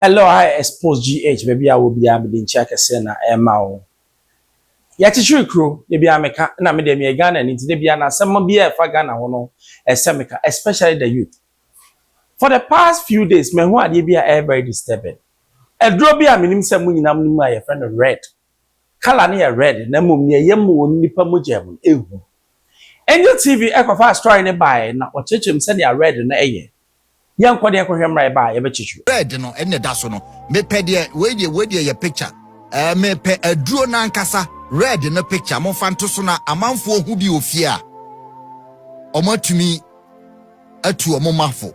Hello I expose GH baabi a wɔ biara mede nkyia kɛseɛ na ɛrema wo. Yɛkyekyere kuro, da biara meka, na me deɛ meyɛ Ghanani nti da biara no asɛm biara a ɛfa Ghana ho no ɛsɛ meka, especially the youth. For the past few days mahu adeɛ bi a ɛyɛ very disturbing. Aduro bi a menim sɛ mo nyinaa monim a yɛfrɛ no red colour no yɛ red na mmom nea ɛyɛ ma wɔn nnipa mogya mu no ɛhu. Angel TV kɔfaa story no baeɛ na wɔkyerɛkyerɛ mu sɛnea red no yɛ. Yɛnkɔ deɛ kɔhwɛ mmra yɛba a yɛbɛkyekyew. Red no ɛna ɛda so no mepɛ deɛ wei deɛ wei deɛ yɛ picture ɛɛ mepɛ aduro no ankasa red no picture momfa nto so na amanfoɔ hu bi wɔ fie a wɔatumi atu wɔn mafo.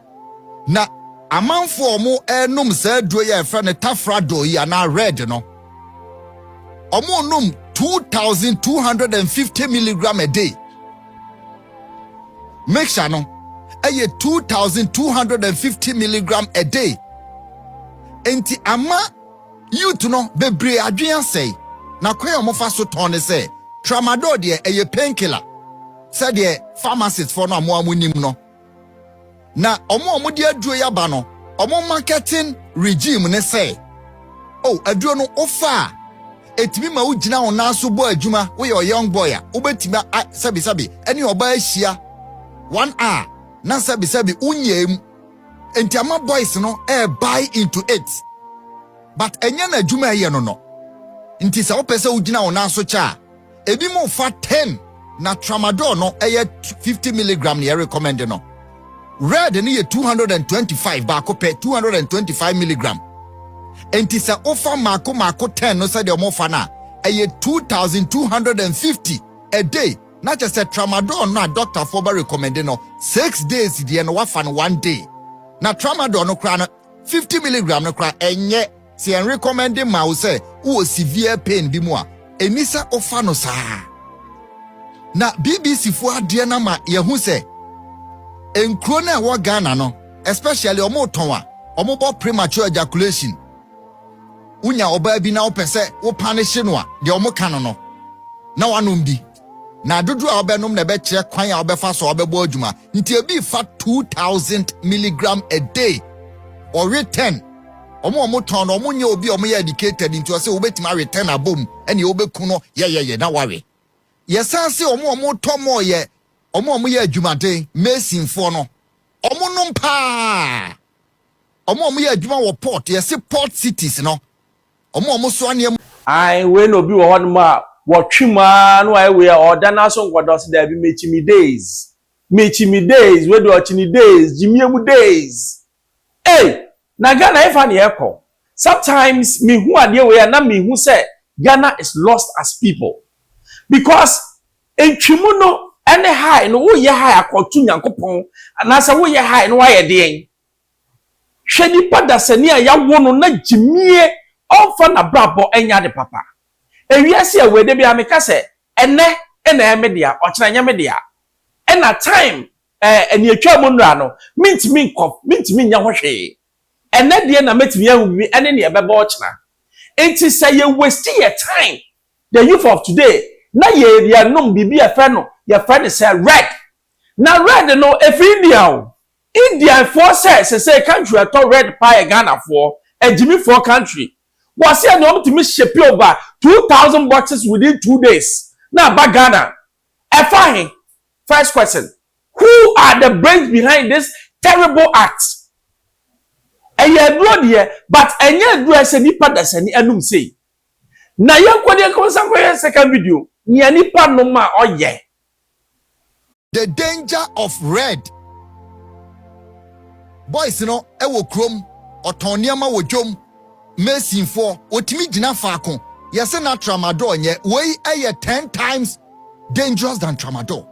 Na amanfo a wɔrenom saa aduro yi a yɛfrɛ no tafradol yi anaa red no, wɔrenom 2250 milligram a day. Mixture no ɛyɛ 2250 milligram a day. Nti ama youth no bebree adwene asɛe. Na kwan a wɔfa so tɔn ne sɛ tramadol deɛ ɛyɛ painkiller sɛdeɛ pharmacistfoɔ no a wɔn a wɔnim no Na wɔn a wɔde aduro yi aba no, wɔn marketing regime ne sɛ, o oh, aduro no wofa a, ɛtumi ma wogyina wo nan so bɔ adwuma, woyɛ ɔyoung boy a, wobɛtumi sɛbisɛbi ɛne ɔbaa ahyia one hour na sɛbisɛbi wonyɛɛ mu. Nti ama boys no ɛrebuy eh, into it. But ɛnyɛ no adwuma ɛyɛ no no. Nti sɛ wopɛ sɛ wogyina wo nan so kyɛ a, Ebinom fa ten na tramadol no yɛ fifty milligram na yɛ recommend no. Red no yɛ two hundred and twenty five baako pɛ two hundred and twenty five milligram. Enti sɛ wofa mako mako ten no sɛdeɛ wɔfa no a ɛyɛ two thousand two hundred and fifty a day na kyɛ sɛ tramadol no a dɔktafoɔ bɛ recommend no six days deɛ no wafa no one day na tramadol no koraa no fifty milligram no koraa ɛnyɛ Sɛ yɛnrekɔmmɛnde ma wo sɛ wowɔ severe pain bi mu a, ɛnni sɛ wofa no saa. Na BBCfoɔ adeɛ no ama yɛahu sɛ nkuro no a ɛwɔ Ghana no, especially wɔretɔn a wɔbɔ premature ejaculation. Wonya ɔbaa bi na wopɛ sɛ wopane hye no a, deɛ wɔka no no, na wanom bi. na dodoɔ a wobɛnom na ɛbɛkyerɛ kwan a wobɛfa so a wobɛbɔ adwuma nti ebi fa 2000 milligram a day ɔwe 10 ɔmo ɔmo tɔn no ɔmo nyɛ obi a ɔmo yɛ educated nti ɔsɛ wobɛtumi awe 10 abom ɛne wobɛku no yɛyɛyɛ na wawe yɛsan se ɔmo ɔmo tɔ mɔɔ yɛ ɔmo ɔmo yɛ adwumaden masonfoɔ no ɔmo nom paa ɔmo ɔmo yɛ adwuma wɔ port yɛse port cities no wɔn a wɔsoa nneɛma. Ae, wei na obi wɔ hɔnom a, wɔtwe mu ara na wayɛ wei a, ɔda no ara so nkɔda, ɔse, Daabi, mekyi me days. Mekyi me days, wei deɛ ɔkyi ne days, gyimie mu days. Ei! Na Ghana hefa na yɛrekɔ? Sometimes mehu adeɛ wei a na mehu sɛ Ghana is lost as people. Because ntwe mu no ne high no, woyɛ high akɔto Nyankopɔn anaasɛ woyɛ high na woayɛ deɛn? Hwɛ nipa dasani a yɛawo no na gyimie ɔmfa nabrabɔ nyɛ ade papa. Ewiase a ɛwɔ yi dabiara meka sɛ ɛnɛ na ɛyɛ me dea ɔkyena ɛnyɛ me dea. Ɛna time eh nea ɛtwaa mu nnora no mentumi nkɔ mentumi nyɛ ho hwee. Ɛnɛ deɛ na mɛtumi ahu bibi ɛne nea ɛbɛba ɔkyena. Nti sɛ yɛ waste yɛ time the youth of today na yɛ yɛnom biribi a yɛfrɛ no yɛfrɛ no sɛ red na red no ɛfiri India o Indian foɔ sɛ sesei country a ɛtɔ red paa yɛ Ghana foɔ, agyimi foɔ country. Wɔse ɛnea wɔn tumi shipe over two thousand boxes within two days na aba Ghana. Ɛfa he? First question, who are the brains behind this terrible act? Ɛyɛ aduro deɛ but ɛnyɛ aduro a ɛsɛ nipa dasani anum sei. Na yɛnkɔ deɛ nkɔ nsa nkɔ yɛ second video. Nea nipa nom a ɔyɛ. The danger of red boys no wɔ kurom ɔtɔn nneɛma wɔ dwom masonfoɔ wɔtumi gyina faako yɛse na tramadol nyɛ wei yɛ ten times dangerous than tramadol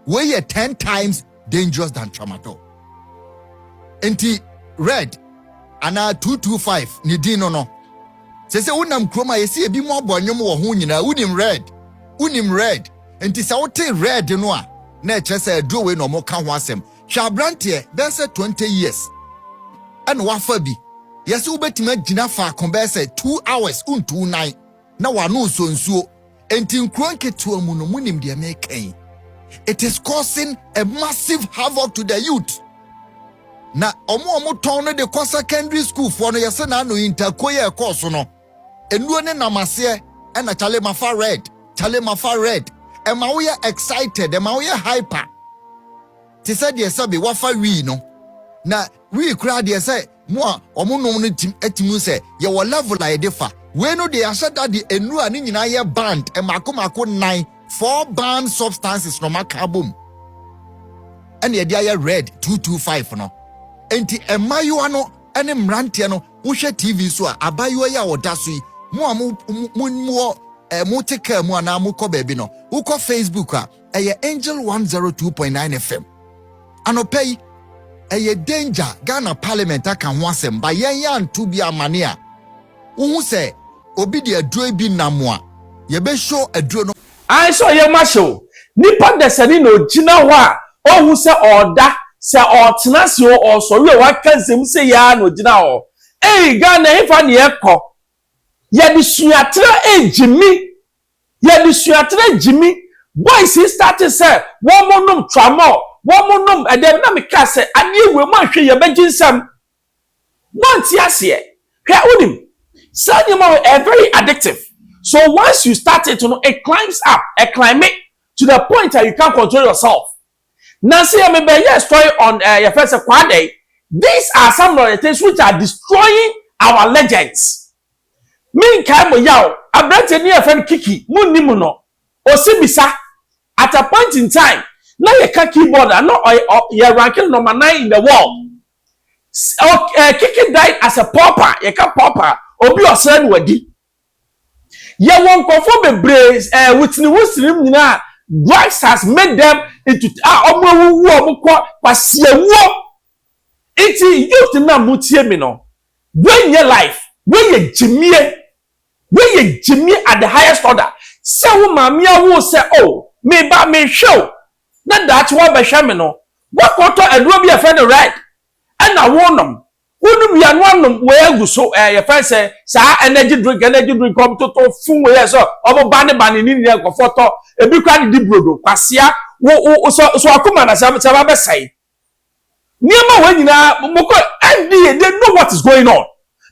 wei yɛ ten times dangerous than tramadol nti red anaa 225 ne din no no sɛ sɛ wonam kurom a yɛsɛ ebi mu abɔ nnwom wɔ ho nyinaa wonim red wonim red nti sɛ wote red no a na ɛkyerɛ sɛ aduro wei na ɔmo ka ho asɛm hwɛ aberanteɛ bɛyɛ sɛ 20 years ɛna wafa bi yɛsɛ wobɛtumi agyina faako bɛyɛ sɛ 2 hours wontu nan na w'ano nsɔ nsuo. Enti nkuro nketewa mu no, monim deɛ meka yi. It is causing a massive havoc to the youth. Na ɔmo a ɔmo tɔn no de kɔ secondary school foɔ no yɛsɛ na ano yi ntakuo yɛ ɛkɔɔ so no. Enuo ne nam aseɛ ɛna kyale mafa red, kyale mafa red. Ɛma woyɛ excited, ɛma woyɛ hyper. Te sɛ deɛ sɛbe wafa wii no. Na Wii koraa deɛ sɛ mo a ɔmo nom no tim ɛtim hu sɛ yɛwɔ level a yɛde fa. Wei no deɛ yɛahyɛ da de nnuru a ne nyinaa yɛ banned mmaako mmaako nnan, four banned substances, na ɔmo aka abom ɛna yɛde ayɛ red two two five no. Enti mmaayewa no ɛne mmeranteɛ no wo hwɛ TV so a abaayewa yi a ɔda so yi mo a mo mo mo wɔ ɛɛ mo te car mu anaa mo kɔ baabi no wo kɔ Facebook a ɛyɛ angel 102.9 fm anɔpa yi ɛyɛ danger ghana parliament aka ho asɛm ba yɛn yɛ anto bi amane a wohu sɛ obi de aduro bi nam a yɛbɛhyo aduro no Ae sɛ ɔyɛ ma hyew. Nipa dasani na ogyina hɔ a ɔnhu sɛ ɔɔda, sɛ ɔɔtena ase o, ɔɔsɔre o, waka dzem sei ara na ogyina hɔ. Ei Ghana ɛhefa na yɛkɔ? Yɛde suaterɛ ɛɛgye mi. Y'adesuatena gyimi, boys yi startee sɛ wɔmo nom tramol, wɔmo nom ɛdɛm na me kaa sɛ adeɛ wei mo anhwɛ yie a ɛbɛgye nsam. Mo ante aseɛ. Hwɛ wonim, saa nneɛma wei ɛyɛ very addictive, so once you start it no it climbs up, ɛclime to the point a you can't control yourself. Na se me bɛ yɛ story on eh yɛfrɛ sɛ kwaa dɛn these are some of the things which are destroying our legends me nkae mo yaw abranteɛ ni a yɛfrɛ no kiki mo nni mo no ose bisa at a point in time na yɛ ka keyboard a na ɔyɛ ɔ yɛ rank no number nine in the world s ok eh kiki died as a pauper yɛ ka pauper obi ɔsra no wadi Yɛwɔ nkurɔfoɔ bebree ɛɛ within within mu nyinaa a drugs has made them into a wɔn awuwu a wɔn kɔ kwasiawuo. Nti youth no a mo tie mi no, wei nyɛ life, wei yɛ gyimie, wei yɛ gyimie at the highest order. Sɛ wo maame awo wo sɛ oh me ba me hwɛ wo na daakye wabɛhwɛ me no, wakɔ tɔ aduro bi a yɛfrɛ no red ɛna wo nom Wo nom wia no anom wei agu so ɛɛ eh, yɛfɛn sɛ saa energy drink energy drink ɔmo toto fun wei yɛ sɛ ɔmo ba ne ba ne ne nyinaa nkɔfɔ tɔ ebi kora de di brodo kwasia wo wo sɛ sɛ wakoma na sɛ sɛ wabɛ sɛe nneɛma wei nyinaa mo kɔ ɛndi yɛ they know what is going on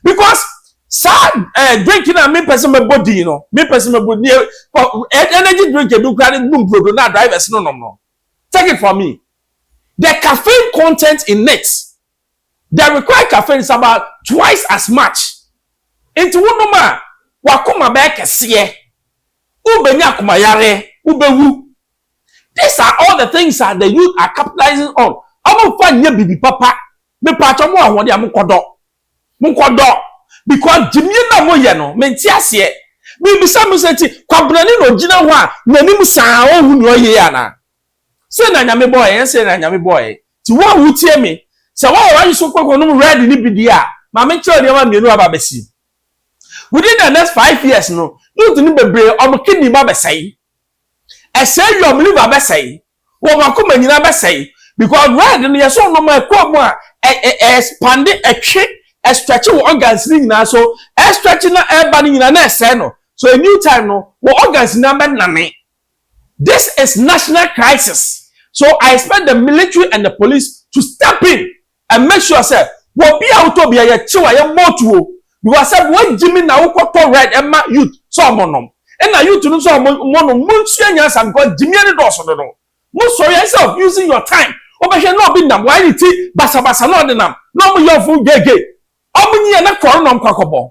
because saa ɛɛ eh, drink na mi pɛsɛ mɛ bɔ din no mi pɛsɛ mɛ bɔ nie kɔ eh, energy drink ebi kora de dum brodo na drivers no nom no take it from me the caffeine content in it. They require caffeines about twice as much. Enti wonom a, w'akoma bɛyɛ kɛseɛ, wobɛnya akomayareɛ, wobɛwu. These are all the things that the youth are capitalizing on. Wɔmfa nyɛ biribi papa. Mepaakyɛw mo ahoɔden a, monkɔdɔ. Monkɔdɔ. Because gyimie no a moyɛ no, mente aseɛ. Mebisa mo sɛ, nti Kwabenani na ɔgyina hɔ a, n'anim saa a, ɔnhu nea ɔreyɛ yi anaa? Sei na Nyame bɔɔ yɛn, ɛnyɛ sei na Nyame bɔɔ yɛn. Nti wo a wotie me, sɛ woayɛ w'adwe so kɔkɔ nom red no bi deɛ a, ma menkyerɛ wo nneɛma mmienu a aba abɛsi. Within the next five years no, youth no bebree, wɔn kidney ba bɛsɛe. Ɛsɛe wie a, wɔn liver bɛsɛe. Wɔn akoma nyinaa bɛsɛe. Because red no, yɛ sɛ wonom a, ɛkɔ mu a, ɛ, ɛ, ɛ expand, ɛtwe, ɛstretch wo organs no nyinaa. So, ɛstretch na ɛreba no nyinaa na ɛsɛe no. So, a new time no, wo organs nyinaa bɛnane. This is national crisis so I expect the military and the police to step in and make sure sɛ wɔbi a wotɔ bi a yɛkyew a yɛmmɔ otuo because sɛ wɔagyi mi na wokɔtɔ red ɛma youth sɛ ɔmo nom ɛna youth no sɛ ɔmo ɔmo nom mo nsua nyansa because gyimie no dɔɔso dodo mo sɔre instead of using your time wobɛhwɛ na obi nam wɔayɛ ne ti basabasa na ɔde nam na ɔmo yɛ ɔfo gyegye ɔmo nyi yɛ na kɔɔ no na ɔmo kɔ akɔbɔ.